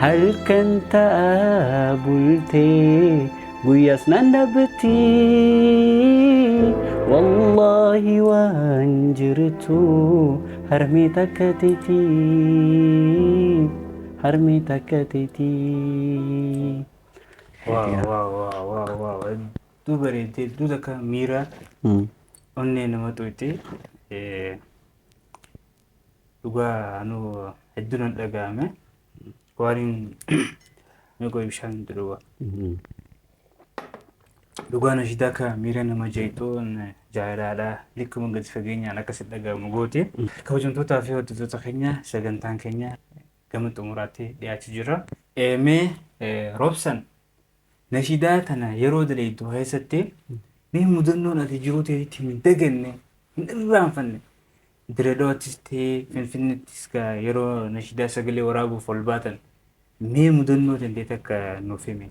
Halkan ta'a bultee guyyaas nan dhabbatti Wallaahi waan jirtu harmee takka teeti harmee takka teeti. Waaw waaw waaw waaw waaw hedduu bareedde hedduu takka miira onnee nama xuqxee dhugaa anu hedduu nan dhaga'ame waaniin meeqoo ibshaan hin dhugaa dhugaa nashidaa akka miira nama jeetuun jaalalaadha likkuma gadi fageenyaan akka si dhaga'amu goote kabajamtootaa fi hordoftoota keenya sagantaan keenya gama xumuraatti dhiyaachuu jira mee roobsan nashidaa tana yeroo daleeddu keessatti mee mudannoon ati jiruu teetitti hin daganne hin irraanfanne Diredawaattis ta'ee Finfinneettis gaa yeroo nashidaa sagalee waraabuuf ol baatan mee mudannoo tantee takka nuuf himi.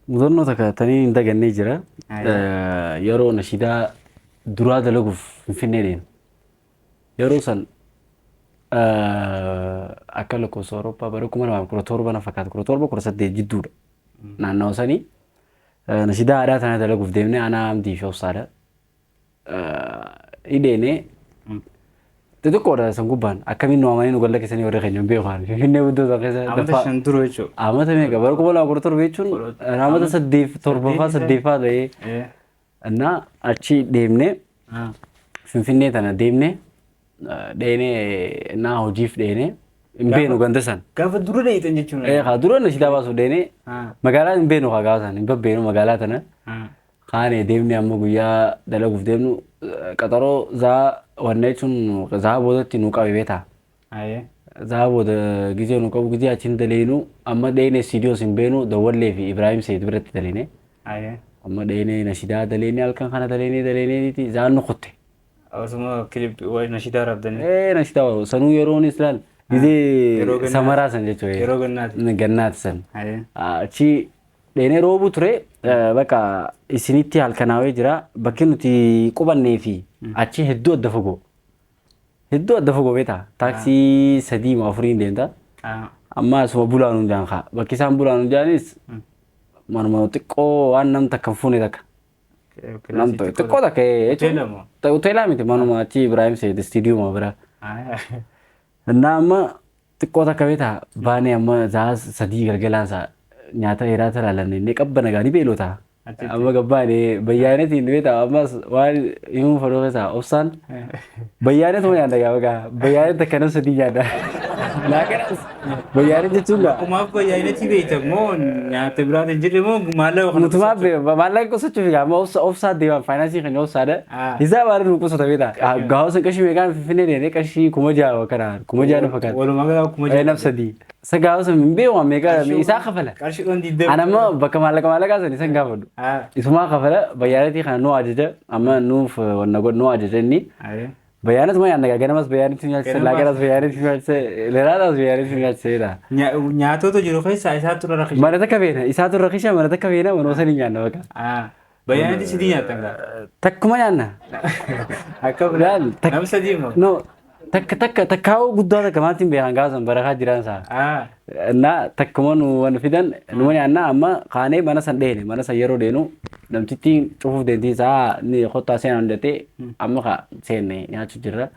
Mudannoo takka tanii hin dagannee jira. Ayi. Yeroo nashidaa duraa dalaguuf Finfinnee deema. Yeroo san akka lakkoofsa Awurooppaa bara kuma lamaa fi kudha torba na fakkaata kudha torba kudha saddeet jidduudha. Naannawa sanii nashidaa aadaa tana dalaguuf deemnee aanaa Amdii fi Obsaadha. hidheene xixiqqoodha san gubbaan akkamiin nu amanii nu galla keessanii warri keenya hin beeku ani finfinnee guddoo san keessa Amata daffaa- shan dura jechuudha. Amata meeqa bara kuma lama kudha torba jechuun Kudha- amata saddeet torbaffaa saddeet. saddeeffaa ta'ee Eh, innaa achi deemnee ah, finfinnee tana deemnee eh, dheenee innaa hojiif dheenee hin beenu ganda san. Gaafa dura dheeytan jechuudha. Eh, Haa dura na silaa baasuuf dheenee Ah, magaalaa hin beenu haa gaafa san hin babbeenu magaalaa tana. ah, Kaane deemne amma guyyaa dalaguuf deemnu qaxaroo zaa wanna jechuun zaa boodatti nu qabe beetaa. Ayee. Zaa booda gizee nu qabu gizee achiin daleenu amma dheene siidiyoos hin beenu dawwallee fi Ibraahim Seed biratti daleene. Ayee. Amma dheene nashidaa daleene halkan kana daleene daleeneeti zaan nu kutte. Osuma kilip nashidaa rabdanii. Ee nashidaa warra sanuu yeroonis laal Yeroo gizee gannaati. samaraa san jechuudha. Yeroo gannaati. Gannaati san. Ayee. Achi Dheenee roobuu ture bakka isinitti halkanaawee jira bakki nuti qubannee fi achi hedduu adda fagoo hedduu adda fagoo beektaa taaksii sadii moo afuriin deemta amma asuma bulaan hundaan kaa bakki isaan bulaan hundaanis manuma xiqqoo waan nam takka hin fuune takka nam tokko- xiqqoo takka ee, jechuun- Hoteela moo? ta- hoteelaa miti manuma achi Ibraahim Seed istiidiyuuma bira Innaa amma Xiqqoo takka beeta baanee amma sa'a sadii galgalaan sa'a nyaata dheeraa tana lannee qabba nagaa ni beelota. Achitti. Amma gabbaane bayyaanetiin beeta ammas waan himuu fadhoo keessa obsaan bayyaanet moo nyaata gaa bagaa bayyaanet takka nam sadii nyaata. Laaqanas bayyaanet jechuun gaa Kumaaf bayyaanetti beekta moo nyaata biraati hin jirre moo maallaqa kana mutumaa be- maallaqa qusachuuf gaa amma obsa obsaa deemaan faayinansii kan obsaadha. Ah. Isaa waan nu qusata beeta. Gaa'osan qarshii meeqaan finfinnee deemee qarshii kuma ja'a kana Kuma ja'a na fakkaata. Walumaa gala kuma Ee, naf sadii. Isa gaafa sun hin beeku meeqa isaa kafala. Qarshii dhoon diddee. Ana immoo bakka maallaqa maallaqaa san isan gaafadhu. Haa. Isumaa kafala bayyaanatii kana nuu ajaja amma nuuf eh, wanna godhu nuu ajaja inni. Ayee. Bayyaanatu ma yaanna ganamas bayyaanitti nyaachise Ganamas. laaqanas bayyaanitti nyaachise leraadhaas bayyaanitti nyaachise jedha. Nya- Nyaatoota jiru keessaa isaatu irra rakkisa. Mana takka beena isaatu rakisha mana takka beena manoo san hin nyaanna bakka. Haa. Bayyaanatti sidii nyaattan gaa. Takkuma nyaanna. Akka Laal, biraa. tak- Nam sadii immoo. No, takka takka takkaa'uu guddaa takka maatti hin beekan gaasan barakaa jiraan isaa. Ah. Na takkuma nu waan fidan numa nyaanna amma kaanee mana san dheene mana san yeroo deenu namtittiin cufuuf deemtii isaa ni kottaa seenaa hundatee amma ka seenne nyaachuu jirra.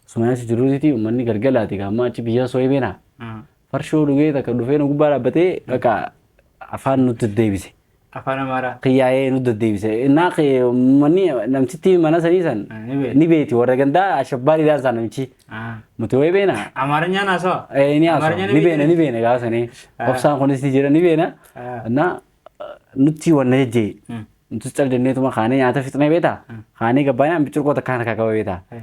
Suma nyaachuu jirruuti uummanni galgalaati amma achi biyya sooyee beena. Mm. Farshoo dhugee takka dhufee nu gubbaa dhaabbatee bakka afaan nutti deddeebise. Afaan Amaaraa. Qiyyaa'ee nu deddeebise. Innaa kee manni namtitti mana sanii san Ah, ni beekti. ni beekti warra gandaa ashabbaariidhaan isaa namichi. Ah. Nuti wayii beena. Amaarinyaan haasawa. Eh, ni haasawa. Amaarinyaan Ni beena ni beena gaafa sanii. Ah. Obsaan kunis ni jira ni beena. Ah. Innaa nutti wanna jejjee. Mm. Nutis cal jenneetuma kaanee nyaata fixnee beeta. Kaanee gabbaanee ambicurqoo takkaan harkaa qaba beeta. Eh.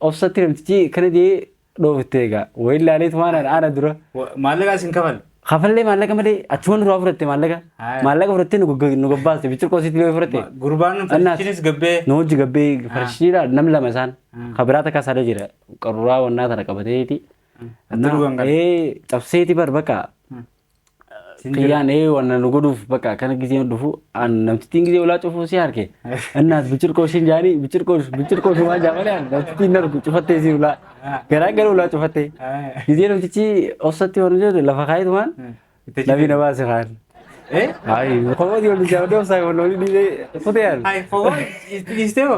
Obsatti namtichi kana jee dhoofte egaa. Wayi laalee tumaan ana ana dura. Wa- Maallaqa isin kafale. Kafallee maallaqa malee achuma nurraa fudhatte maallaqa. Haa. Maallaqa fudhattee nu gogg- nu gabbaaste bichirqoo sitti yoo fudhatte. Ma- Gurbaan Annaas. farshichinis gabbee. Nu hojji gabbee farshiidha nam lama isaan. Ah. Kabiraa takka saada jira. Qaruuraa wannaa tana qabateeti. Adda dhugan kana. Ee cabseeti bar bakka. Kiyyaan ee wanna nu godhuuf bakka akkana giseen dhufu an namtittiin gisee ulaa cufuu si harke. Innaas bichirqoo ishiin jaanii bichirqoo bichirqoo shumaa jaamalee an namtittiin hin argu cufattee si ulaa. Garaa gara ulaa cufattee. Gisee namtichi obsatti waan jedhu lafa kaayitumaan lafi na baase kaan. Ayi komooti wal jaamdee obsaa kan wal dhiisee kutee an.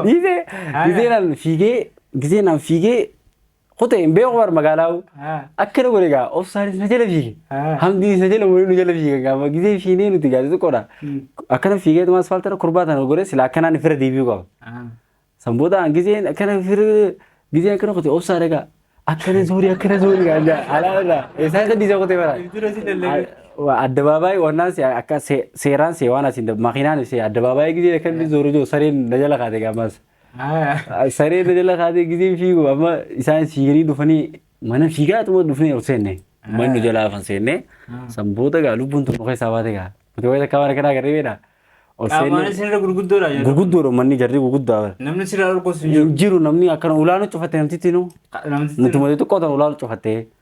Dhiisee giseen an fiigee giseen an fiigee Kute hin beeku bar magaalaa akkana godhe gaa obsaanis na jala fiige. Hamdiinis na jala waliin nu jala fiige gaafa gisee fiinee nuti gaa xixiqqoodha. Akkana fiigee tumaa asfaaltara kurbaa tana godhe silaa akkanaan fira deebi'uu qaba. San booda aan giseen akkana fira giseen akkana kute obsaa dhagaa. Akkana zuuri akkana zuuri gaa jaa alaa irraa eessaa isa dhiisa kute bara. Addabaabaayii wannaan si akka seeraan si waan asiin makiinaan si addabaabaayii gisee akkana zuuri jiru sareen na jala kaate gaa maas. Saree dajala kaatee gizeen fiigu amma isaan fiiganii dhufanii mana fiigaa tuma dhufnee ol seenne. Manni nu jalaa afan seenne. San booda gaa lubbuun tokko keessaa baate gaa. Nuti wayita akka waan akkanaa garee beedha. Ol Qaamaanis seenne sirra gurguddoodha jedhu. gurguddoodha manni jarri gurguddaa bara. Namni sirraa dhorkoos hin jiru. Hin jiru namni akkana ulaa nu cufatte namtitti nu. Namtitti Nuti malee xiqqoo ta'an ulaa nu cufatte.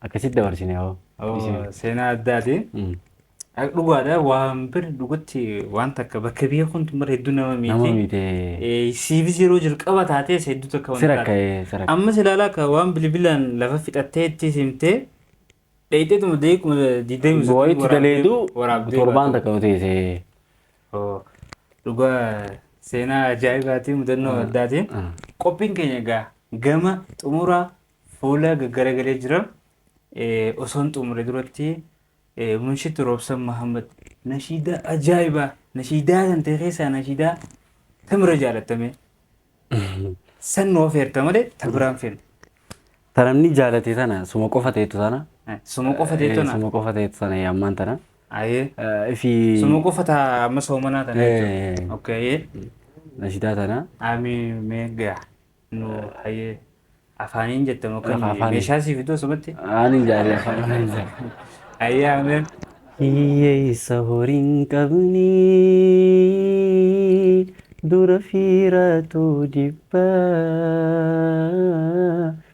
Akkasitti dabarsine hoo. Oo, Bismillah. seenaa addaati. Mm. Ak- Dhugaadha waan bira dhugatti waan takka bakka biyya kun tumar hedduu nama Nama miiti. miite. Eh, Siifis yeroo jalqaba taatees hedduu takka Sira wanta ka'ee sira ka'ee. Ammas ilaalaa akka waan bilbilaan lafa fixattee itti simtee dheedheetuma deekuma diidamii Boo itti daleedu torbaan takka yoo teesse. Oo, Dhugaa seenaa ajaa'ibaatiin mudannoo addaatiin Ah. qophiin keenya egaa gama xumuraa Fuula gaggaragalee jira. Osoon xumure duratti Munshid Roobsan Mahammad nashiidaa ajaa'ibaa nashiidaa kan ta'e keessaa nashiidaa tamira jaalattame. San nu ofeerta malee ta biraan fedhu. Ta namni jaalate tana suma qofa ta'etu tana. Suma qofa ta'etu tana. Suma qofa ta'etu tana ammaan tana. Ayee. Ifi. Suma qofa ta amma soomanaa tana jechuudha. Okee. Nashiidaa tana. Ameen mee gaa. nu hayee afaaniin jette moo Lafa akkami afaanii. meeshaa sii fiduu asumatti Ani jaaree afaan ani jaaree. hayee ameen Hiyyeessa horiin qabne dura fiiraatu jibba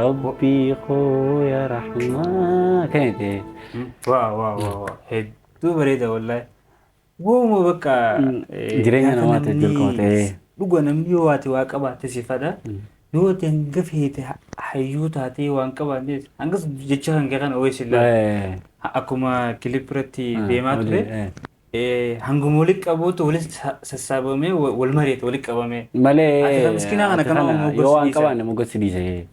Rabbii koo yaa rahmaa kan jedhe. Waa waa waa waa hedduu bareeda wallahi. Wooma bakka Jireenya namaatiif dirqama ta'ee. Dhuga namni yoo waati waa qabaate sifadha. Yoo ati hanga feete hayyuu taatee waan qabaannees hangas jecha kan kee kana wayii sillaa. Akkuma kilip irratti deemaa ture. Hanguma walitti qabuutu walitti sassaabamee wal mari'ata walitti qabamee. Malee Ati kan miskinaa kana ati kana kanuma yoo waan moggachiisa. qabaanne moggassi dhiise.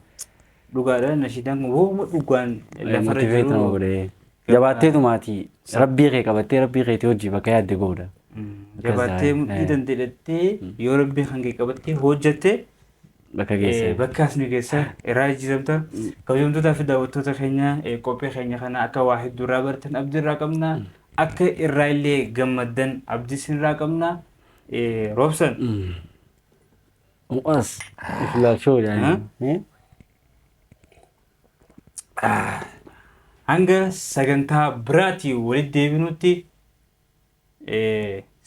Dhugaadha nashiidaan kun wooma dhugaan lafarra Motivate nama jiru. godhe. Jabaatteetu maatii rabbii kee qabattee rabbii keetii hojii bakka yaadde goodha. Mm, Jabattee Gazaa'e, mudhii eh. dandeedhattee yoo rabbii hangee qabattee hojjatte Bakka geessan. Bakka as nu geessa irraa jijjiiramta. Kabajamtootaa fi daawwattoota keenya qophii keenya kana akka waa hedduu irraa bartan abdii irraa qabna. Akka irraa illee gammaddan abdii isin irraa qabna. Roobsan. Mu'aas. Iflaachoo jedhanii. Hanga sagantaa biraatii walitti deebinutti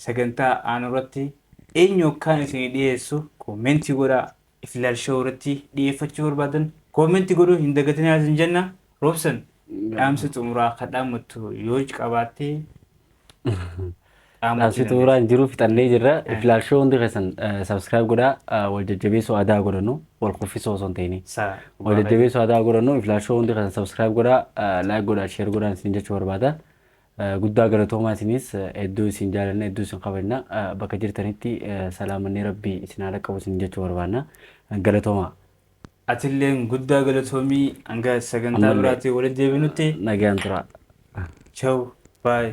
Sagantaa aanu irratti eenyu akkaan isinii dhiyeessu koomentii godhaa. Iflaal show irratti dhiyeeffachuu barbaadan koomentii godhuu hin dagatinaa isin jenna. Roobsan dhaamsa xumuraa kan dhaammattu yoo qabaatte Dhaamsi xumuraan jiru fixannee jirra. Iflaal show hundi keessan subscribe godhaa. Wal jajjabeessuu aadaa godhannu. Wal kuffisoo osoo hin ta'ini. Wal jajjabeessuu aadaa godhannu. Iflaal show hundi keessan subscribe godhaa. Like godhaa, share godhaa isin jechuu barbaada. Guddaa galatoomaa isiniis hedduu isin jaalanna hedduu isin kabajna bakka jirtanitti salaamanni rabbii isin haa dhaqqabu isiniin jechuu barbaanna galatoomaa. Atilleen guddaa galatoomi hanga sagantaa Ammallee biraatiin walitti deebinutti nagaan turaa. chaw baay.